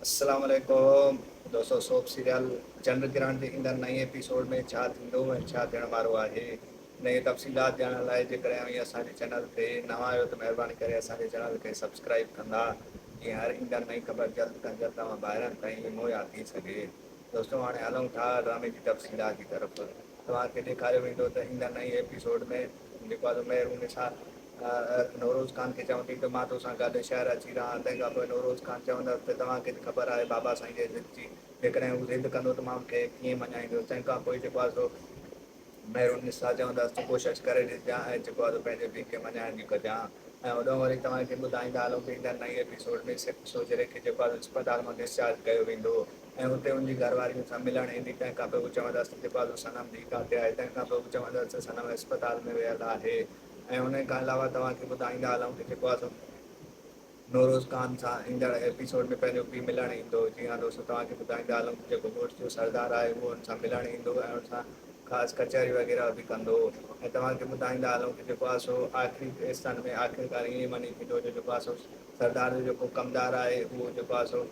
السلام عليڪم دوستو سوپ سيريل چنڊ گرهڻ جي ايندڙ نئين ايپيسوڊ ۾ ڇا ٿيندو ۽ ڇا ٿيڻ وارو آهي انهي جي تفصيلات ڄاڻڻ لاء جيڪڏهن اوهين اسان جي چينل تي نوان آهيو ته مهرباني ڪري اسان جي چينل کي سبسڪرائيب ڪندا جيئن هر ايندڙ نئين خبر جلد کان جلد اوهان ڀائرن تائين مهيا ٿي سگهي. دوستو هاڻي هلون ٿا ڊرامي جي تفصيلات جي طرف توهان کي ڏيکاريو ويندو ته ايندڙ نئين ايپيسوڊ ۾ جيڪو آهي سو مهرونسا نوروز خان کي چوندي ته مان توسان گڏ شهر اچي رهان تنهن کان پوء نوروز خان چوندس ته توهان کي ته خبر آهي بابا سائين جي ضد جي جيڪڏهن هو ضد ڪندو ته مان ان کي ڪيئن مڃائيندس تنهن کان پوء جيڪو آهي سو مهر النساء چوندس ته ڪوشش ڪري ڏسجان ۽ جيڪو آهي سو پنهنجي پيء کي مڃائڻ جي ڪجان ۽ هوڏانهن وڃي توهان کي ٻڌائيندا هلون ته ايندڙ نئين ايپيسوڊ ۾ سکه سوجهري کي جيڪو آهي سو اسپتال مان ڊسچارج ڪيو ويندو ۽ اتي ان جي گهرواري ان سان ملڻ ايندي تنهن کان پوء هو چوندس ته جيڪو آهي سو صنم ڌيء ڪاٿي آهي تنهن کان پوء هو چوندس ته صنم اسپتال ۾ ويل آهي ۽ ان کان علاوه توهان کي ٻڌائيندا هلون ته جيڪو آهي سو نوروز خان سان ايندڙ ايپيسوڊ ۾ پهريون پيء ملڻ ايندو. جي ها دوستو توهان کي ٻڌائيندا هلون ته جيڪو مڙس جو سردار آهي اهو هن سان ملڻ ايندو ۽ هن سان خاص ڪچهري وغيره به ڪندو ۽ توهان کي ٻڌائيندا هلون ته جيڪو ها سو آخري ايستن ۾ آخرڪار ائين ئي وڃي ٿيندو جو جيڪو ها سو سردار جو جيڪو ڪمدار آهي اهو جيڪو ها سو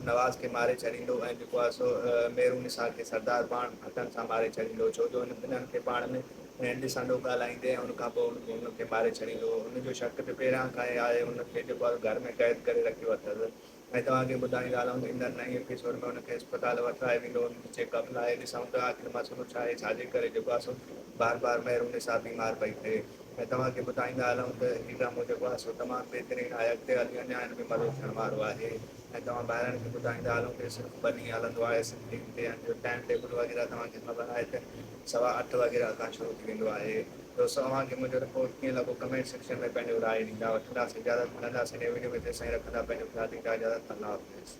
نواز کي ماري ڇڏيندو ۽ جيڪو آهي سو ميرونسا کي سردار پاڻ هٿن سان ماري ڇڏيندو ڇو جو هن ٻنهن کي پاڻ ۾ هينڊ سانڊو ڳالهائيندي ۽ ان کان پوء هن کي ماري ڇڏيندو هن جو شڪ ته پهريان کان ئي آهي هن کي جيڪو آهي گهر ۾ قيد ڪري رکيو اٿس ۽ توهان کي ٻڌائيندا هلون ته ايندڙ نئين ايپيسوڊ ۾ هن کي اسپتال وٺرائي ويندو هن جي چيڪ اپ لاء ڏسون ته آخر مسئلو ڇا آهي ڇا جي ڪري جيڪو آهي سو بار بار ميرونسا بيمار پئي ٿئي. ۾ توهان کي ٻڌائيندا هلون ته هي ڊرامو جيڪو آهي سو تمام بهترين آهي اڳتي هلي اڃا هن ۾ مزو ٿيڻ وارو آهي ۽ توهان ڀائرن کي ٻڌائيندا هلون ته هي صرف ٻه ڏينهن هلندو آهي سنڌين تي ۽ جو ٽائيم ٽيبل وغيره توهان کي خبر آهي ته سوا اٺ وغيره کان شروع ٿي ويندو آهي دوستو اوهان کي منهنجو رپورٽ ڪيئن لڳو ڪمينٽ سيڪشن ۾ پنهنجو راء ڏيندا وٺنداسين اجازت ملنداسين نئين وڊيو ۾ تيسين رکندا پنهنجو خيال ڏيندا اجازت الله حافظ.